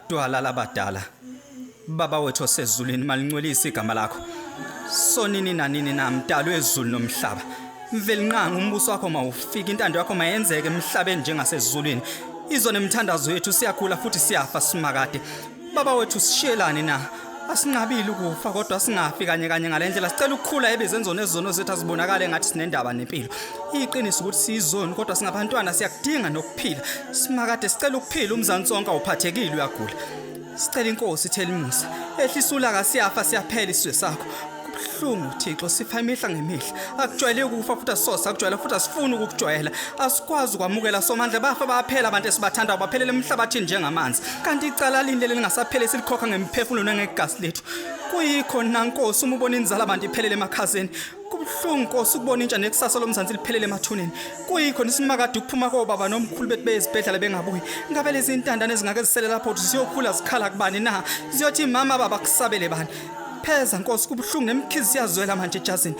Twala labadala baba wethu osezulwini malincwelise igama lakho sonini nanini na mdalo ezulu nomhlaba mvelinqanga umbuso wakho mawufike intando yakho mayenzeke emhlabeni njengasezulwini izona imithandazo yethu siyakhula futhi siyafa simakade Baba wethu sishiyelani na? Asinqabile ukufa kodwa singafi kanye kanye ngalendlela sicela ukukhula ebezenzona ezono zethu azibonakale ngathi sinendaba nempilo. Iqiniso ukuthi sizoni kodwa singabantwana siyakudinga nokuphila. Simakade sicela ukuphila umzansi sonke awuphathekile uyagula. Sicela inkosi thelimusa. Ehlisa ulaka siyafa siyaphela isizwe sakho. kubuhlungu thixo sifa imihla ngemihla akujwayeleki ukufa futhi asisose akujwayela futhi asifuni ukukujwayela asikwazi ukwamukela somandla bafa baphela abantu esibathandayo baphelele emhlabathini njengamanzi kanti icala lindele lingasaphele esilikhokha ngemiphefumulo nengegasi lethu kuyikho nankosi uma ubona inzala abantu iphelele emakhazeni kubuhlungu nkosi ukubona intsha nekusasa lomzansi liphelele emathuneni kuyikho nisimakade ukuphuma kobaba nomkhulu bethi beyezibhedlela bengabuyi ngabe lezi ntandane ezingake zisele lapho ukuthi ziyokhula zikhala kubani na ziyothi mama baba kusabele bani Pheza Nkosi kubuhlungu nemkhizi siyazwela manje Jazini.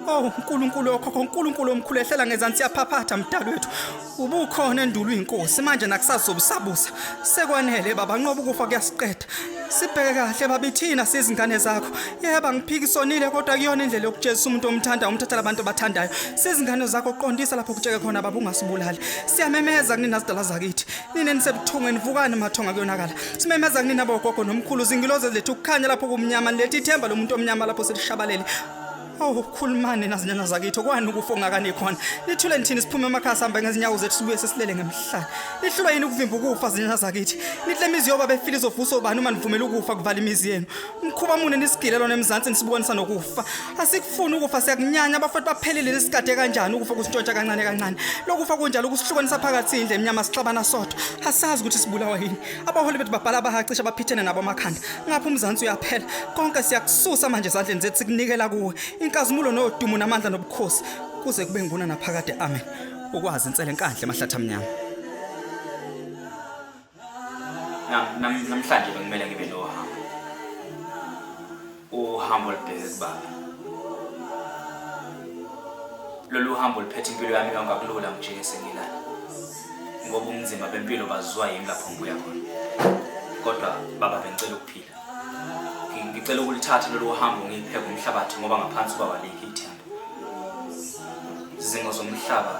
Oh uNkulunkulu okhokho uNkulunkulu omkhulu ehlela ngezansi yaphaphatha mdali wethu. Ubukhona endulo inkosi manje nakusazobusabusa. Sekwanele baba nqoba ukufa kuyasiqeda. Sibheke kahle babithina sizingane zakho. Yeba ngiphikisonile kodwa kuyona indlela yokujezisa umuntu omthanda umthathela abantu abathandayo. Sizingane zakho qondisa lapho kutsheke khona baba ungasibulali. Siyamemeza kunina zidala zakithi. nina nisebuthungweni vukani mathonga kuyonakala simemeza kunina bogogo nomkhulu zingiloze lethu ukukhanya lapho kumnyama nilethi ithemba lomuntu omnyama lapho selishabalele awu khulumani nazinyana zakitho kwani ukufa ongakani khona nithule nithini siphume emakhaya sihamba ngezinyawo zethu sibuye sesilele ngemhlane nihlulwa yini ukuvimba ukufa zinyana zakithi nihle imizi yoba befile izovusa obani uma nivumela ukufa kuvala imizi yenu mkhuba mune nisigile lona emzansi nisibukanisa nokufa asikufuni ukufa siyakunyanya abafowethu baphelile nisikade kanjani ukufa kusintshontsha kancane kancane lokufa kunjalo kusihlukanisa phakathi indle emnyama sixabana sodwa asazi ukuthi sibulawa yini abaholi bethu babhala abahacisha abaphithene nabo amakhanda ngapha umzansi uyaphela konke siyakususa manje ezandleni zethu sikunikela kuwe inkazimulo nodumo namandla nobukhosi kuze kube nguna naphakade amen ukwazi insele enkandle emahlathi amnyama namhlanje bekumele ngibe nohambo uhambo olubheke kubaba lolu hambo luphethe impilo yami yonke akulula ngijike sengilana ngoba umnzima bempilo baziwa yimi lapho ngibuya khona kodwa baba bengicela ukuphila ngicela ukulithatha lolu hambo ngiyipheke umhlabathi ngoba ngaphansi kwaba likho ithemba izingo zomhlaba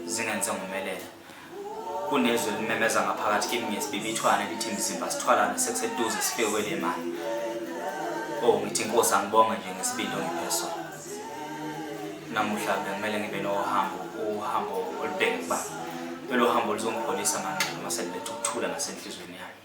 zingenze ngomelela kunezwi elimemeza ngaphakathi kimi ngesibibithwane lithi mzimba sithwalane sekuseduze sifekwe le mali o oh, ngithi inkosi angibonge nje ngesibindi ongipheso namuhla bekumele ngibe nohambo uhambo olubheke kuba lelo hambo lizongipholisa manqondo uma seliletha ukuthula nasenhlizweni yami